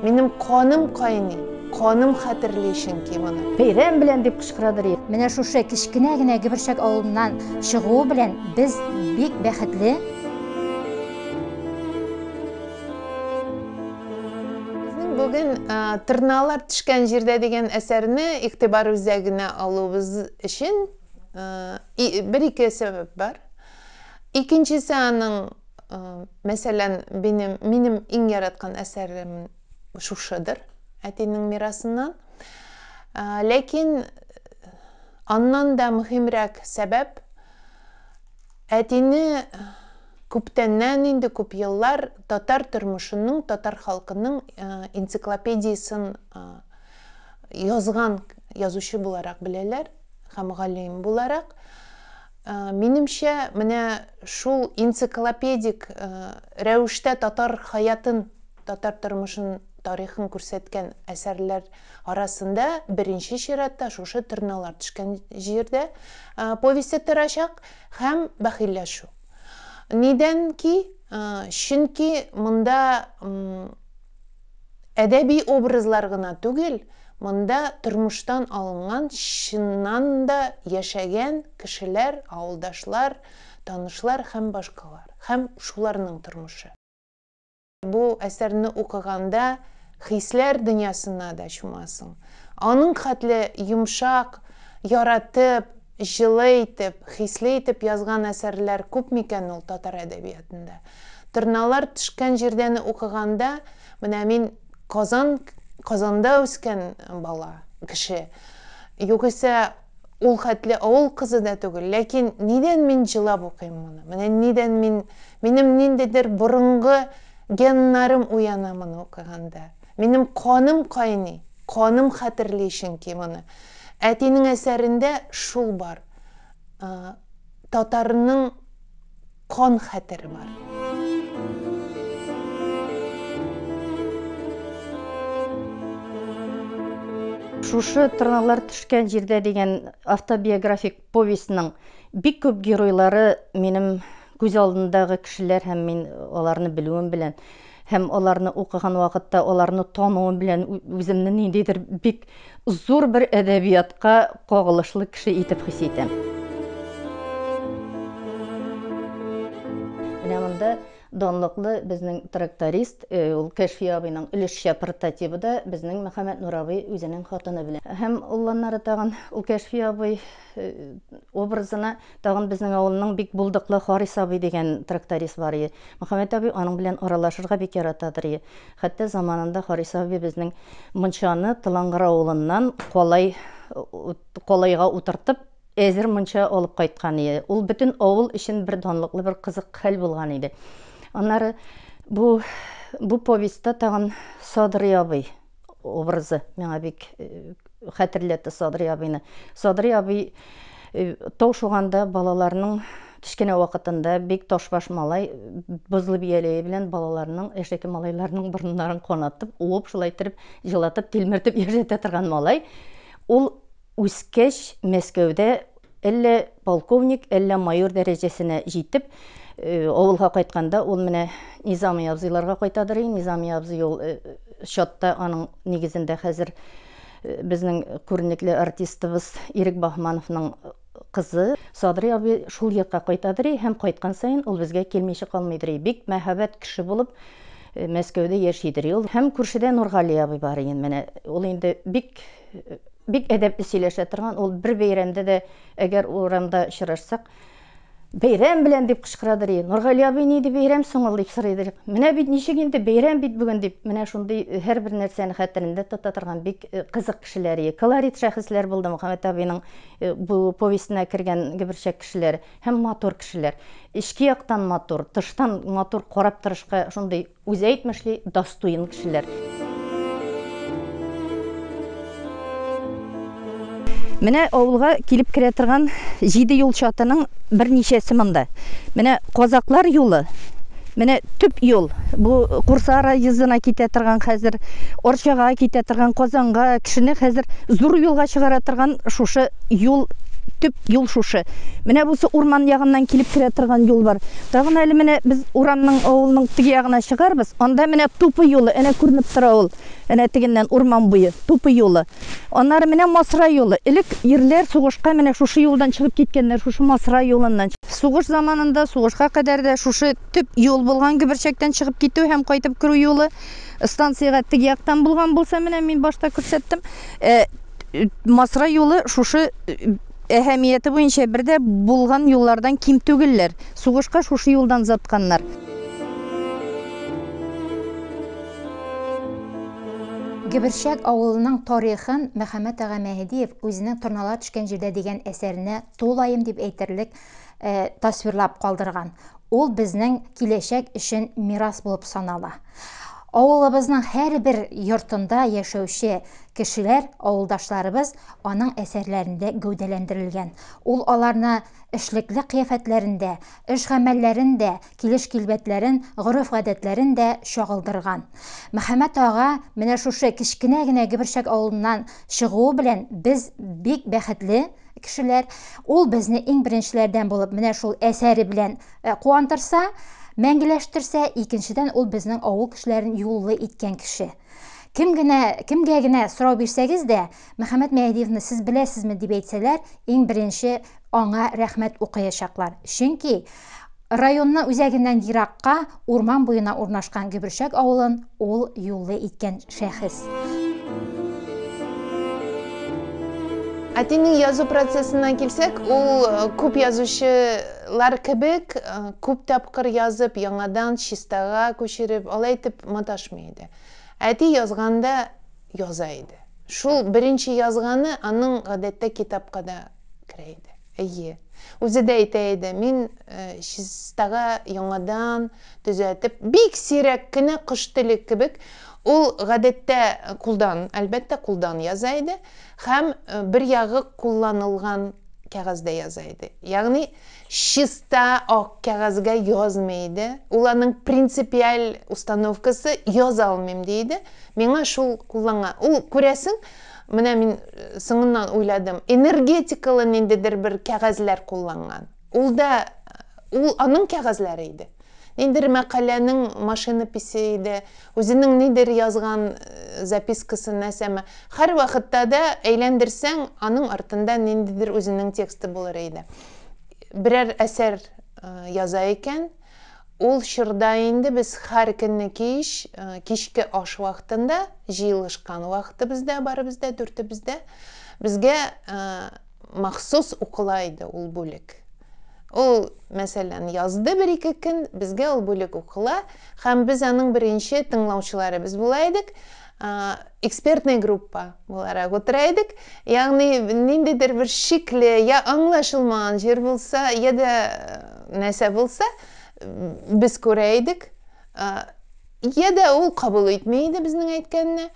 Минем каным кайный, каным хәтерли чөнки моны. Бәйрәм белән дип кычкырадыр. Менә шушы кечкенә генә Гиберчәк авылыннан чыгуы белән без бик бәхетле. бүген тырналар төшкән җирдә дигән әсәрне игътибар үзәгенә алуыбыз өчен бер ике сәбәп бар. Икенчесе аның мәсәлән минем минем иң яраткан әсәрем шушыдыр әтинең мирасыннан. Ләкин аннан да мөһимрәк сәбәп әтине Күптәннән инде, күп еллар татар тормышының, татар халкының энциклопедиясен язган язучы буларак беләләр һәм галим буларак. Минемчә, менә шул энциклопедик рәвештә татар хаятын, татар тормышын, тарихын күрсәткән әсәрләр арасында беренче чиратта шушы Торналар төшкән җирдә повесте торачак һәм Бәхилләшү. Нидән ки, чөнки монда әдәби образлар гына түгел, монда тормыштан алынган, чыннан да яшәгән кешеләр, авылдашлар, танышлар һәм башкалар, һәм шуларның тормышы. Бу әсәрне укыганда хисләр дөньясына да чумасың. Аның хәтле йомшак, яратып, җылы итеп, хисле итеп язган әсәрләр күп микән ул татар әдәбиятында? Торналар төшкән җирдәне укыганда, менә мин Казан, Казанда үскән бала, кеше. Югыйсә Ул хәтле авыл кызы да түгел, ләкин нидән мин җылап укыйм моны? Менә нидән мин, минем ниндидер борынгы геннарым уяна моны укыганда. Минем каным кайный, каным хәтерли чөнки моны. Әтинең әсәрендә шул бар. Татарның. Кан хәтере бар. Шушы Тырналар төшкән җирдә дигән автобиографик повестьның бик күп геройлары минем күз алдындагы кешеләр һәм мин аларны белүем белән Һәм аларны укыган вакытта, аларны тануым белән үземне ниндидер бик зур бер әдәбиятка кагылышлы кеше итеп хис итәм. Менә монда данлыклы безнең тракторист, э, ул Кәшфи абыйның өлешчә портативы да безнең Мөхәммәд Нур абый үзенең хатыны белән. Һәм улланнары тагын ул Кәшфи абый э, образына Тагын безнең авылның бик булдыклы Харис абый дигән тракторист бар ие. Мөхәммәт абый аның белән аралашырга бик яратадыр ие. Хәтта заманында Харис абый безнең мунчаны Тылангыр авылыннан калай калайга утыртып, әзер мунча алып кайткан ие. Ул бөтен авыл өчен бер данлыклы, бер кызык хәл булган иде. Аннары бу бу повестьта тагын Садрый абый. образы миңа бик хәтерләтте Садри абыйны. Садри абый тау шуганда балаларның кечкенә вакытында бик ташбаш малай бозлы бияләе белән балаларның яшьтәге малайларның борыннарын канатып уып шулай иттереп җылатып тилмертеп яшәтә торган малай ул Үскәч, Мәскәүдә әллә полковник, әллә майор дәрәҗәсенә җитеп, авылга кайтканда, ул менә Низами абзыйларга кайтадыр и, Низами абзый ул чатта, аның нигезендә хәзер безнең күренекле артистыбыз Ирек Баһмановның кызы Садрый абый шул йортка кайтадыр и, һәм кайткан саен ул безгә килмичә калмыйдыр и, бик мәһабәт кеше булып Мәскәүдә яшидер и ул. Һәм күршедә Нургали абый бар иде, менә ул инде бик. бик әдәпле сөйләшә торган, ул бер бәйрәмдә дә, әгәр урамда очрашсак, бәйрәм белән дип кычкырадыр, и, Нургали абый, ни ди бәйрәм соң ул, дип сорыйдыр. Менә бит ничек инде, бәйрәм бит бүген, дип, менә шундый һәрбер нәрсәне хәтерендә тота торган бик кызык кешеләр, и, колорит шәхесләр булды Мөхәммәт абыйның бу повестена кергән гөберчәк кешеләр һәм матур кешеләр. Эчке яктан матур, тыштан матур карап торышка шундый. Үзе әйтмешли, дастуен кешеләр. Менә авылга килеп керә торган җиде юл чатының берничәсе монда. Менә Казаклар юлы, менә төп юл. Бу Курса райизына китә торган хәзер, Арчага китә торган, Казанга, кешене хәзер зур юлга чыгара торган шушы юл, төп юл шушы. Менә бусы урман ягыннан килеп керә торган юл бар. Тагын әле менә без урамның, авылның теге ягына чыгарбыз, анда менә тупы юлы, әнә күренеп тора ул, әнә тегеннән урман буе, тупы юлы. Аннары менә Масра юлы. Элек ирләр сугышка менә шушы юлдан чыгып киткәннәр, шушы Масра юлыннан. Сугыш заманында, сугышка кадәр дә шушы төп юл булган, Гөберчәктән чыгып китү һәм кайтып керү юлы. Станциягә теге яктан булган булса, менә мин башта күрсәттем, Масра юлы шушы Әһәмияте буенча бер дә булган юллардан ким түгелләр. Сугышка шушы юлдан озатканнар. Гөберчәк авылының тарихын Мөхәммәт ага Мәһедиев үзенең Торналар төшкән җирдә дигән әсәренә тулаем дип әйтерлек э, тасвирлап калдырган. Ул безнең киләчәк өчен мирас булып санала. Авылыбызның һәрбер йортында яшәүче кешеләр, авылдашларыбыз аның әсәрләрендә гәүдәләндерелгән. Ул аларны эшлекле кыяфәтләрендә, эш гамәлләрен дә, килеш-килбәтләрен, гореф-гадәтләрен дә чагылдырган. Мөхәммәт ага менә шушы кечкенә генә Гөберчәк авылыннан чыгуы белән без бик бәхетле, кешеләр. Ул безне иң беренчеләрдән булып менә шул әсәре белән э, куандырса, мәңгеләштерсә, икенчедән ул безнең авыл кешеләрен юллы иткән кеше. Кем генә, кемгә генә сорау бирсәгез дә, Мөхәммәд Мәһдиевны сез беләсезме дип әйтсәләр, иң беренче аңа рәхмәт укыячаклар. Чөнки Районны үзәгеннән еракка, урман буена урнашкан Гөберчәк авылын ул юллы иткән шәхес. Әтинең язу процессына килсәк, ул күп язучылар кебек күп тапкыр язып, яңадан чистага күчереп, алай итеп маташмый иде. Әти язганда, яза иде. Шул беренче язганы аның гадәттә китапка да керә иде. Әйе. Үзе дә әйтә иде, мин чистага яңадан төзәтеп, бик сирәк кенә кош теле кебек, ул гадәттә кулдан, әлбәттә кулдан яза иде һәм бер ягы кулланылган кәгазьдә яза иде. Ягъни чиста ак кәгазьгә язмый иде, ул аның принципиаль установкасы, яза алмыйм, ди иде, миңа шул кулланган. Ул, күрәсең, менә мин соңыннан уйладым, энергетикалы ниндидер бер кәгазьләр кулланган. Ул да, ул аның кәгазьләре иде. Ниндидер мәкаләнең машинописе иде, үзенең нидер язган запискасы, нәрсәме. Һәрвакытта да әйләндерсәң, аның артында ниндидер үзенең тексты булыр иде. берәр әсәр яза икән, ул чорда инде без һәр көнне кич, кичке аш вакытында, җыелышкан вакытыбызда, барыбыз да, дүртебез дә, безгә махсус укыла иде ул бүлек. Ул, мәсәлән, язды бер-ике көн, безгә ул бүлек укыла, һәм без аның беренче тыңлаучылары без була идек. экспертный группа буларак утыра идек ягъни ниндидер бер шикле я аңлашылмаган җир булса я да нәрсә булса без күрә идек я да ул кабул итми иде безнең әйткәнне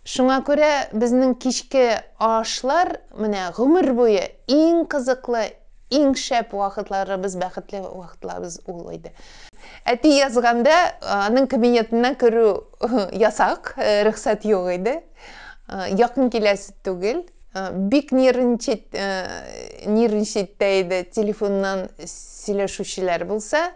шуңа күрә безнең кичке ашлар менә гомер буе иң кызыклы Иң шәп вакытларыбыз, бәхетле вакытларыбыз ул иде. Әти язганда, аның кабинетына керү ясак, рөхсәт юк иде. Якын киләсе түгел. Бик нервничать, нервничать та иде, телефоннан сөйләшүчеләр булса.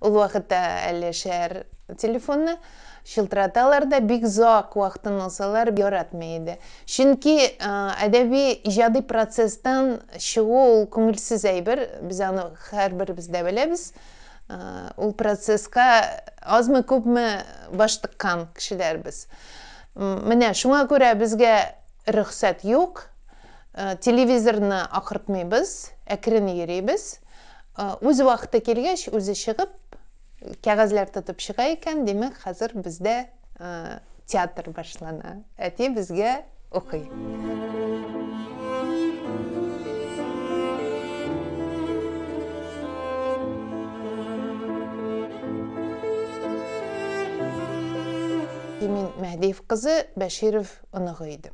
Ул вакытта әле шәһәр телефоны чылтыраталар да бик озак вакытын алсалар яратмый иде. Чөнки әдәби иҗади процесстан чыгу ул күңелсез әйбер, без аны һәрберебез дә беләбез. Ул процесска азмы күпме баш тыккан кешеләрбез. Менә шуңа күрә безгә рөхсәт юк. Телевизорны акыртмыйбыз, әкрен йөрибез. Үз вакыты килгәч, үзе чыгып, кәгазьләр тотып чыга икән, димәк, хәзер бездә театр башлана. Әти безгә укый. Мин Мәһдиев кызы, Бәширов оныгы идем.